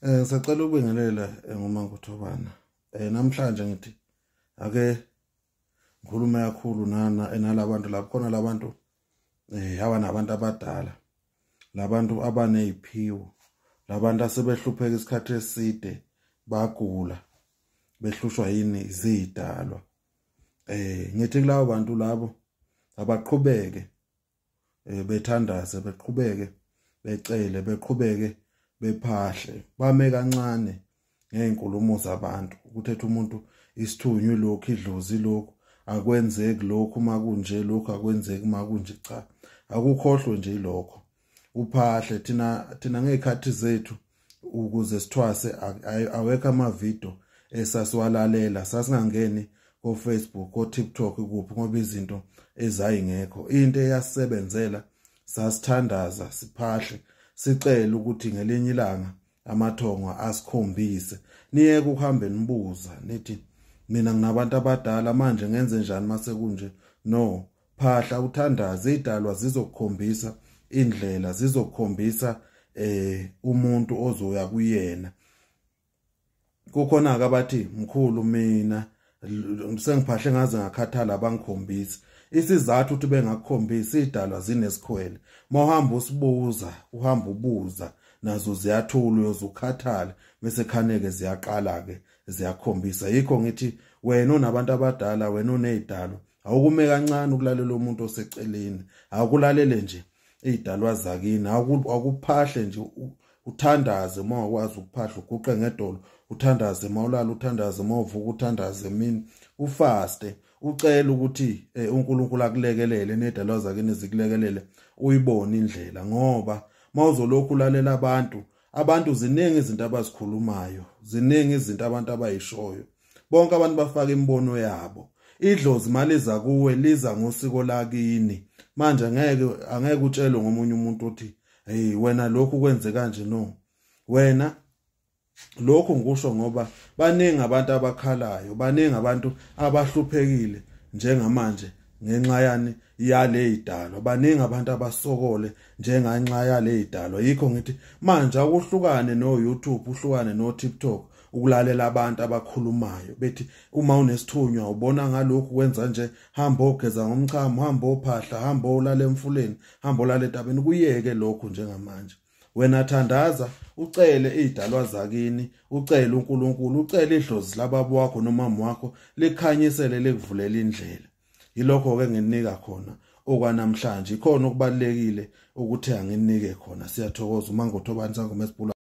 Eh ngisacela ukubingelela eh, ngoma ngothobana. Eh namhlanje ngithi ake ngikhulume kakhulu nana enalabantu eh, lapho khona labantu eh haba nabantu abadala. Labantu abaneziphiwo. Labantu asebehlupheka isikhathi eside bagula behlushwa yini izidalwa. Eh ngithi kulabo bantu labo abaqhubeke eh, bethandaze beqhubeke becele beqhubeke bephahle bame kancane ngeenkulumo zabantu ukuthetha umuntu isithunywe lokhu idlozi lokhu akwenzeki lokhu makunje lokhu akwenzeki makunje cha akukhohlwe nje lokho uphahle thina thina ngezikhathi zethu ukuze sithwase awekho amavidiyo esasiwalalela sasingangeni kofacebook kotiktok kuphi ngoba izinto ezayingekho into eyasisebenzela sasithandaza siphahle sicele ukuthi ngelinye ilanga amathongo asikhombise niyeke ukuhambe nibuza nithi mina nginabantu abadala manje ngenze njani mase kunje no phahla uthandaze idalwa zizokukhombisa indlela zizokukhombisa eh umuntu ozoya kuyena kukhona akabathi mkhulu mina sengiphahle ngaze ngakhathala abangikhombisi isizathu ukuthi bengakukhombisi idalwa zinesikhwele mawuhamba usibuza uhamba ubuza nazo ziyathula uyozukhathala bese khaneke ziyaqala ke ziyakhombisa yikho ngithi wena onabantu abadala wena onezidalo awukume kancane ukulalela umuntu oseceleni akulalele nje izidalwa zakini akuphahle nje uthandaze uma wakwazi ukuphahla uguqe ngedolo uthandaze uma ulala uthandaze uma uvuka uthandaze emini ufaste ucela ukuthi eh, uNkulunkulu akulekelele nedalwa zakini zikulekelele uyibone indlela ngoba mawuzolokhu ulalela abantu abantu ziningi izinto abazikhulumayo ziningi izinto abantu abayishoyo bonke abantu bafaka imibono yabo idlozi maliza kuwe liza ngosiko lakini manje ngeke angeke utshelwe ngomunye umuntu uthi hey wena lokhu kwenze kanje no wena lokhu ngikusho ngoba baningi abantu abakhalayo baningi abantu abahluphekile njengamanje ngenxa yani yale idalo baningi abantu abasokole njenganxa yale idalo yikho ngithi manje akuhlukane no YouTube uhlukane no TikTok ukulalela abantu abakhulumayo bethi uma unesithunywa ubona ngalokhu kwenza nje hamba ogeza ngomchamo hamba ophahla hamba olale emfuleni hamba olale etabeni kuyeke lokhu njengamanje wena thandaza ucele izidalwa zakini ucele uNkulunkulu ucele idlozi lababa wakho nomama wakho likhanyisele likuvulela indlela yilokho ke nginika khona okwanamhlanje ikhona okubalekile ukuthe anginike khona siyathokoza uma ngothobani sangoma esibhula